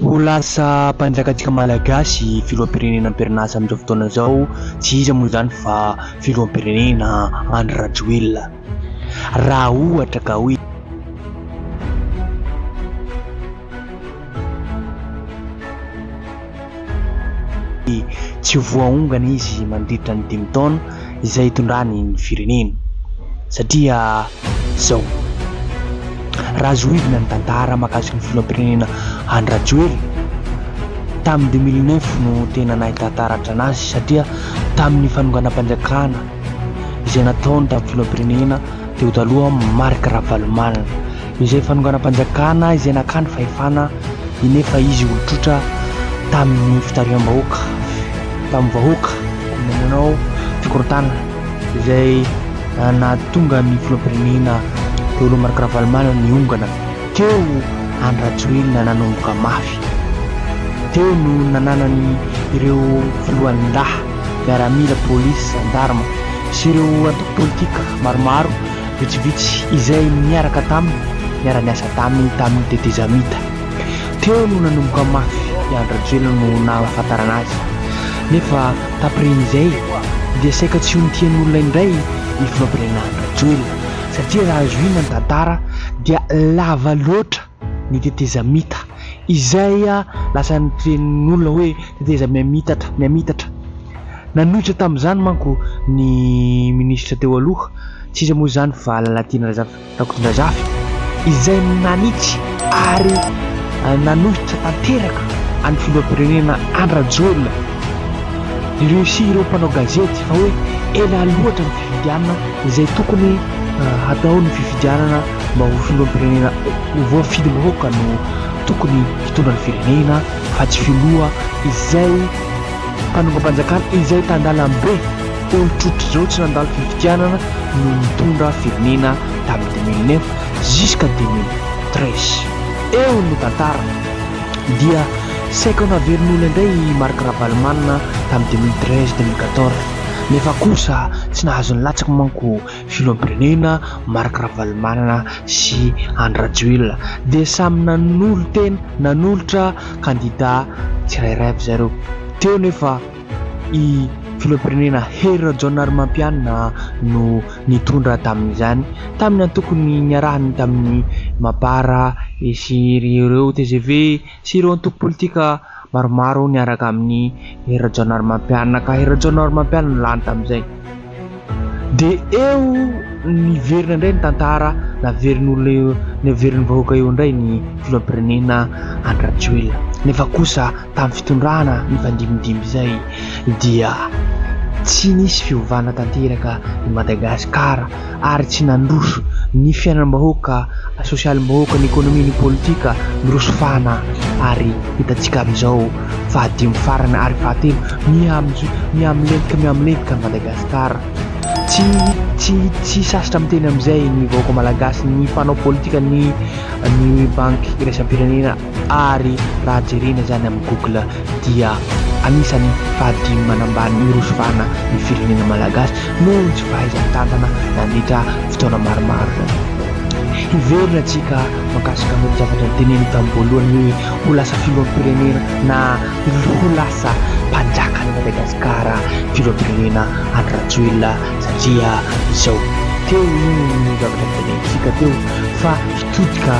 Ho lasa mpanjakajaka malagasy filoham-pirenena am-perinasa amin'izao fotoana izao tsy iza moa izany fa filoham-pirenena Andry Rajoelina raha ohatra ka hoe. Tsy ho voaongana izy mandritra ny dimy taona. izay hitondrany ny firenena satria izao raha zohidina ny tantara makasika ny filoham-pirenena Andry Rajoelina tamin'ny deux mille neuf no tena nahita taratra anazy satria tamin'ny fanonganam-panjakana izay nataony tamin'ny filoham-pirenena teo taloha Marc Ravalomanana izay fanonganam-panjakana izay nakà ny fahefana eny efa izy olon-trotra tamin'ny fitariham-bahoaka tamin'ny vahoaka nanao fikorontanana izay nahatonga ny filoham-pirenena teo aloha Marc Ravalomanana niongana teo Andry Rajoelina nanomboka mafy teo no nananany ireo filohan'ny lahy miaramila polisy zandarma sy ireo antoko politika maromaro Vitsivitsy izay niaraka taminy, niara-niasa taminy tamin'ny tetezamita. Teo no nanomboka mafy i Andry Rajoelina no nahafantarana azy. Nefa tapirin'izay dia saika tsy ho nitian'olona indray ny filohampirenena Andry Rajoelina satria raha zohiana ny tantara dia lava loatra. ny tetezamita izay lasa notrenin'olona hoe teteza mihamitatra mihamitatra. Nanohitra tamin'izany manko ny minisitra teo aloha, tsy iza moa izany fa Lalatiana Razafy Rakotondrazafy izay nanitsy ary nanohitra tanteraka an'ny filoham-pirenena Andry Rajoelina. Nireussit ireo mpanao gazety fa hoe ela loatra ny. Indiana izay tokony hatao ny fifidianana mba ho filoham-pirenena voafidim-bahoaka no tokony hitondra ny firenena fa tsy filoha izay mpanongam-panjakana izay tandalam-be olotrotr'izao tsy nandalo fifidianana no nitondra firenena tamin'ny deux mille neuf jusqu'à deux mille treize eo no tantara dia saika ho naverin'olona indray i Marc Ravalomanana tamin'ny deux mille treize, deux mille quatorze. nefa kosa tsy nahazo nilatsaka manko filoham-pirenena Marc Ravalomanana sy Andry Rajoelina dia samy nanolo-tena nanolotra kandida tsirairay avy zareo teo nefa i filoham-pirenena Hery Rajaonarimampianina no nitondra tamin'izany tamin'ny antokony niarahany tamin'ny Mapar sy ireo tgv sy ireo antoko politika maromaro niaraka amin'i Hery Rajaonarimampianina ka Hery Rajaonarimampianina no lany tamin'izay. Dia eo niverina indray ny tantara, naverin'olona eo, naverin'ny vahoaka eo indray ny filoham-pirenena Andry Rajoelina. Nefa kosa tamin'ny fitondrana nifandimindimby izay dia tsy nisy fiovana tanteraka i Madagasikara. ary tsy nandroso ny fiainam-bahoaka, sosialim-bahoaka, ny ekonomia, ny politika. Miroso fahana ary hitantsika amin'izao fahadimy farany ary fahatelo miha-mijo, miha-milentika, miha-milentika an'i Madagasikara. Tsy, tsy, tsy sarotra miteny amin'izay ny vahoaka malagasy, ny mpanao politika, ny, ny banky iraisam-pirenena. ary raha jerena izany amin'ny google dia anisan'ny fahadimy manambany miroso vahana ny firenena malagasy noho ny tsy fahaizan-tantana nandritra fotoana maromaro izany. Hiverina antsika mankasika an'io zavatra noteneniko tamin'ny voalohany hoe ho lasa filoham-pirenena na ho lasa mpanjakan'i Madagasikara filoham-pirenena Andry Rajoelina satria izao teo io ny zavatra notenenitsika teo fa Tody ka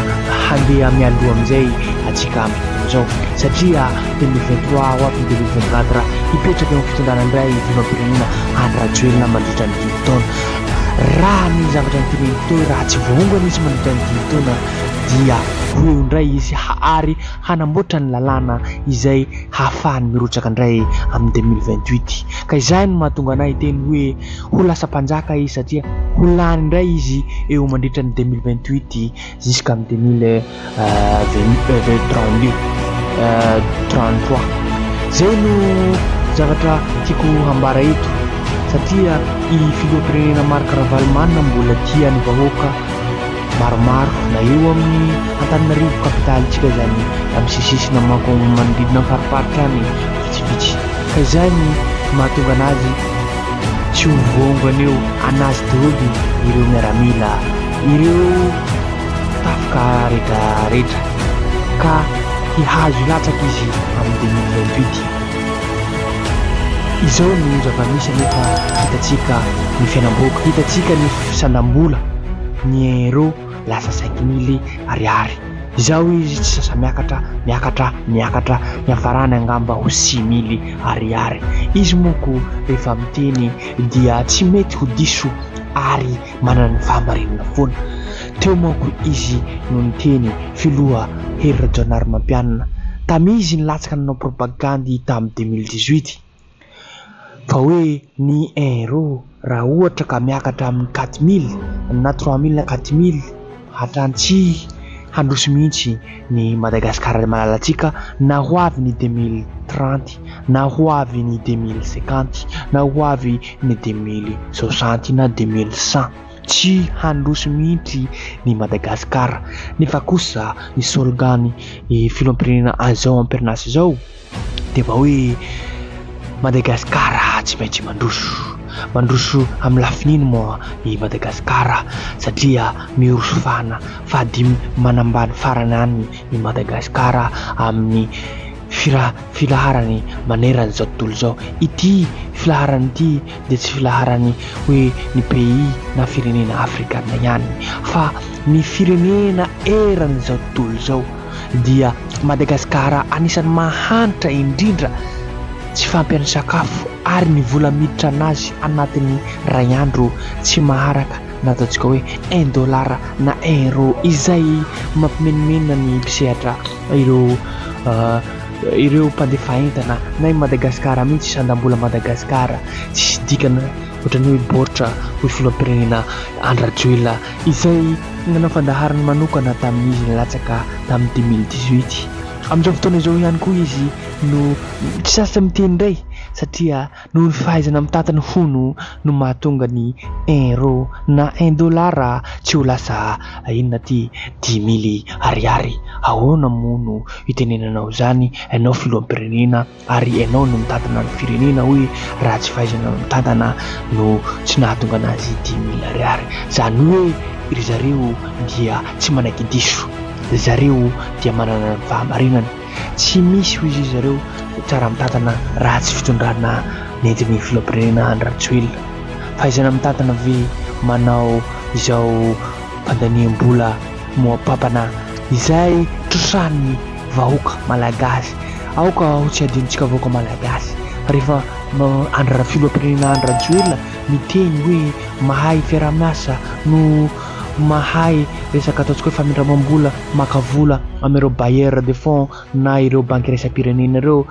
handeha mialoha amin'izay antsika amin'izao fotoana izao satria telo mey vingt trois ho avy ny deux mille vingt quatre raha hipetraka eo amin'ny fitondrana indray ny filoham-pirenena Andry Rajoelina mandritra ny dimy taona. Raha ny zavatra noteneniny teo raha tsy voaongana izy mandritra ny dimy taona dia ho eo indray izy ary hanamboatra ny lalàna izay hahafahany mirotsaka indray amin'ny deux mille vingt huit. Ka izany no mahatonga anay hiteny hoe. Ho lasa mpanjaka izy satria ho lany indray izy eo mandritra ny deux mille vingt huit jusqu'amin'ny deux mille trente deux trente trois. Izay no zavatra tiako hambara eto satria i filoham-pirenena Marc Ravalomanana mbola tia ny vahoaka maromaro na eo amin'ny Antananarivo kapitalintsika izany amin'ny sisisina manko manodidina ny fariparitra any vitsivitsy ka izay ny mahatonga anazy Tsy ho vongo anio anazy daholo ireo miaramila, ireo tafika rehetra rehetra ka hihazo hilatsaka izy amin'ny deux mille vingt huit. Izao no zava-misy anefa hitantsika ny fiainam-bahoaka, hitantsika ny fisandram-bola, ny euro. Lasa saiky mily ariary. Izao izy tsy sasa-miakatra, miakatra, miakatra, niafarany angamba ho six mily ariary. Izy monko rehefa miteny dia tsy mety ho diso ary manana ny fahamarinana foana. Teo manko izy no niteny, filoha Hery Rajaonarimampianina, tamizy nilatsaka nanao propagandy tamin'ny deux mille dix-huit. Fa hoe ny euro raha ohatra ka miakatra amin'ny quatre mille na trois mille na quatre mille hatrany tsy handroso mihitsy ny Madagasikara malalantsika na ho avy ny deux mille trente na ho avy ny deux mille cinquante na ho avy ny deux mille soixante na deux mille cent. Tsy handroso mihitsy ny Madagasikara nefa kosa ny slogan ny filoham-pirenena izao amperinasa izao. Dia vao hoe Madagascar tsy maintsy mandroso. Mandroso amin'ny lafin'ino moa i Madagascar satria miroso fahana fahadimy manambany farany any i Madagascar amin'ny filaharany manerana izao tontolo izao. Ity filaharana ity. dia tsy filaharan'ny hoe ny pays na firenena afrikana ihany fa ny firenena eran'izao tontolo izao dia Madagascar anisan'ny mahantra indrindra tsy fampian'ny sakafo ary ny vola miditra anazy anatin'ny ray andro tsy maharaka na ataontsika hoe un dollar na un euro izay mampimenomenona ny mpisehatra ireo Ireo mpandefa entana na i Madagasikara mihitsy sandam-bola Madagasikara tsisy dikany ohatran'ny hoe baoritra hoy filoham-pirenena Andry Rajoelina izay nanao fandaharana manokana tamin'izy nilatsaka tamin'ny deux mille dix-huit. Amin'izao fotoana izao ihany koa izy no tsy sasa miteny indray satria Noho ny fahaizana mitantana ny hono no mahatonga ny un rô na un dollar tsy ho lasa inona aty dix mille ariary. Ahoana moa no itenenanao izany ianao filoham-pirenena ary ianao no mitantana ny firenena hoe raha tsy fahaizana mitantana no tsy nahatonga anazy dix mille ariary. Izany hoe ry zareo dia tsy manaiky diso. Ry zareo dia manana ny fahamarinana. Tsy misy hoy ry zareo tsara mitantana raha tsy fitondrana nentin'ny filoham-pirenena Andry Rajoelina. Fahaizana mitantana ve manao izao fandaniam-bola moapampana izay trosahan'ny vahoaka malagasy. Aoka ho tsy adinontsika vahoaka malagasy fa rehefa Andry filoham-pirenena Andry Rajoelina miteny hoe mahay fiaraha-miasa no mahay resaka ataontsika hoe famindramam-bola maka vola amin'ireo bailleurs de fonds na ireo banky iraisam-pirenena ireo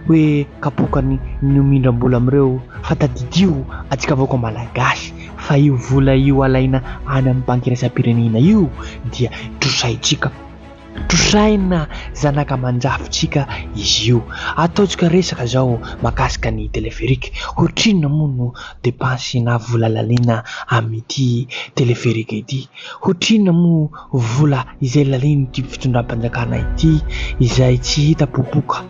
hoe kapokany ny homindram-bola amin'ireo fa tadidio antsika vahoaka malagasy fa io vola io alaina any amin'ny banky iraisam-pirenena io dia trosaintsika. Trosaina zanaka mandrafitsika izy io. Ataontsika resaka izao mahakasika ny téléphérique. Hoatrinona moa no depansy na vola laniana amin'ity téléphérique ity? Hoatrinona moa vola izay lanian'ity fitondram-panjakana ity izay tsy hita popoka?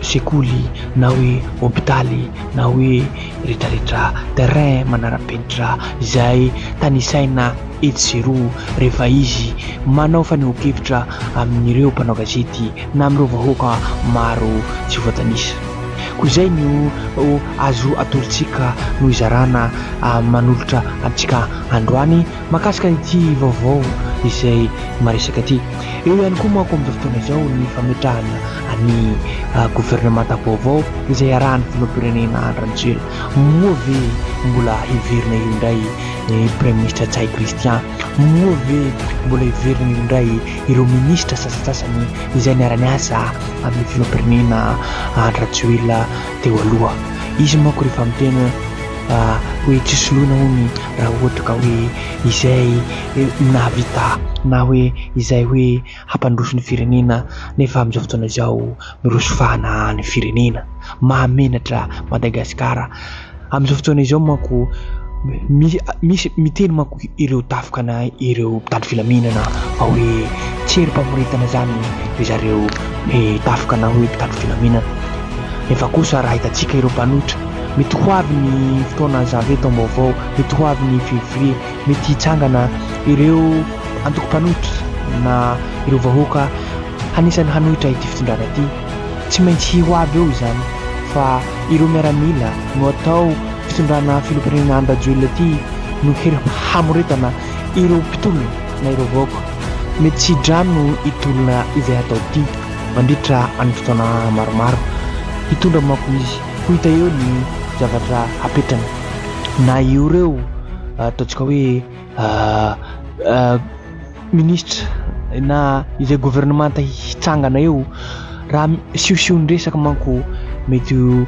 sekoly na hoe hopitaly na hoe retraretra terrain manarapenitra izay tanisaina etsy sy eroa rehefa izy manao fanehoankevitra amin'ireo mpanao gazety na amin'ireo vahoaka maro tsy voatanisa. Koa izay no azo atolotsika no hizarana manolotra antsika androany. Mahakasika an'ity vaovao izay maresaka ity. Eo ihany koa manko amin'izao fotoana izao ny fametrahana ny governemanta vaovao izay iarahan'ny filoham-pirenena Andry Rajoelina. Moa ve mbola hiverina eo indray ny praiminisitra Ntsay Christian? Moa ve mbola hiverina eo indray ireo minisitra sasantsasany izay niara-niasa amin'ny filoham-pirenena Andry Rajoelina teo aloha? Izy manko rehefa miteny hoe tsy soloina hono raha ohatra ka hoe izay nahavita na hoe izay hoe hampandroso ny firenena nefa amin'izao fotoana izao miroso fahana any firenena. Mahamenatra Madagascar. Amin'izao fotoana izao manko misy miteny manko ireo tafika na ireo mpitandro filaminana fa hoe tsy herim-pamoretana izany ry zareo tafika na hoe mpitandro filaminana. Nefa kosa raha hitantsika ireo mpanohitra Mety ho avy ny fotoana Janvier taom-baovao, mety ho avy ny Février, mety hitsangana ireo antoko mpanohitra na ireo vahoaka hanisany hanohitra ity fitondrana ity. Tsy maintsy ho avy eo izany fa ireo miaramila no atao fitondrana filoham-pirenena an-dRajoelina ity no hery hamoretana ireo mpitolona na ireo vahoaka mety tsy hidrano hitolona izay hatao ity mandritra ny fotoana maromaro. Hitondra manko izy. Ho hita eo ny zavatra hapetrany na io reo ataontsika hoe minisitra na izay governemanta hitsangana eo raha siosion-dresaka manko mety ho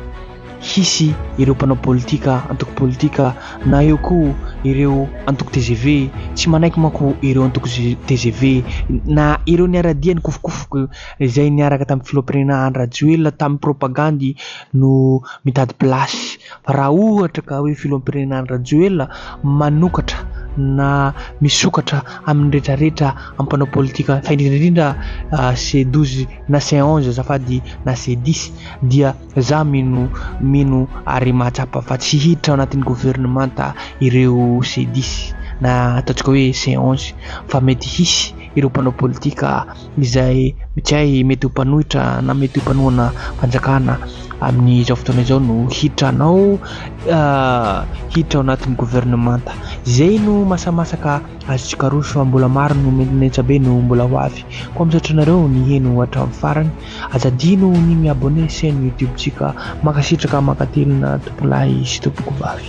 hisy ireo mpanao politika antoko politika na eo koa ireo antoko tgv tsy manaiky manko ireo antoko tgv na ireo niara-dia nikofokofoka izay niaraka tamin'ny filoham-pirenena Andry Rajoelina tamin'ny propagandy no mitady place fa raha ohatra ka hoe filoham-pirenena Andry Rajoelina manokatra na misokatra amin'ny rehetra rehetra amin'ny mpanao politika fa indrindra indrindra ah, C12 na C11 azafady na C10 dia za mino mino ary mahatsapa fa tsy hiditra ao anatin'ny governemanta ireo C10 na ataontsika hoe C11 fa mety hisy ireo mpanao politika izay mikay mety ho mpanohitra na mety ho mpanohana fanjakana amin'izao fotoana izao no hiditra anao hiditra ao anatin'ny governemanta. Izay no masamasaka azontsika aroso fa mbola maro no menamesa be no mbola ho avy. Koa misaotra anareo niheno hatramin'ny farany. Aza adino ny mi-abonner chaîne YouTube-tsika. Mankasitraka mankatelina tompolahy sy tompokovavy.